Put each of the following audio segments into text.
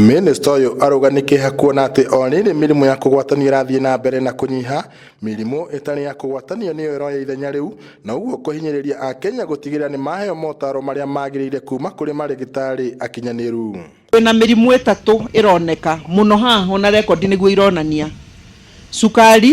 Mĩnĩsta ũyũ arauga nĩ kĩeha kuona atĩ o rĩrĩ mĩrimũ ya kũgwatanio ĩrathiĩ na mbere na kũnyiha, mĩrimũ ĩtarĩ ya kũgwatanio nĩyo ĩroya ithenya rĩu, na ũguo kũhinyĩrĩria Akenya gũtigĩrĩra nĩ maheo motaro marĩa magĩrĩire kuuma kũrĩ marĩgĩtarĩ akinyanĩru. Twĩ na mĩrimũ ĩtatũ ĩroneka mũno haha, o na rekondi nĩguo ironania, cukari,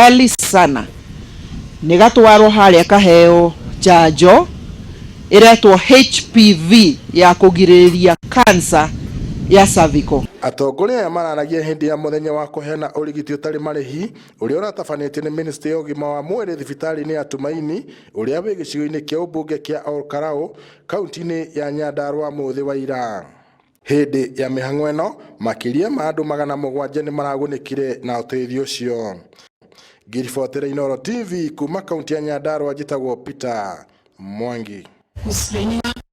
Gali sana nä gatwarwo harä a kaheo njanjo ĩretwo HPV ya kũgirĩrĩria kansa ya cervical. Atongoria aya mararagia hĩndĩ ya mũthenya wa kũheana ũrigiti ũtarĩ marĩhi ũrĩa ũratabanĩtio nĩ mĩnĩstry ya ũgima wa mwĩrĩ thibitarĩ-inĩ ya Tumaini ũrĩa wĩ gĩcigo-inĩ kĩa ũmbunge kĩa Ol Kalou, kauntĩ-inĩ ya Nyandarua mũthĩ wa ira. Hĩndĩ ya mĩhang'o ĩno, makĩria ma andũ magana mũgwanja nĩ maragunĩkire na ũteithio ũcio. Ngiribotera Inooro TV kuma kaunti ya Nyandarua njĩtagwo Peter Mwangi. Mũciĩ-inĩ wa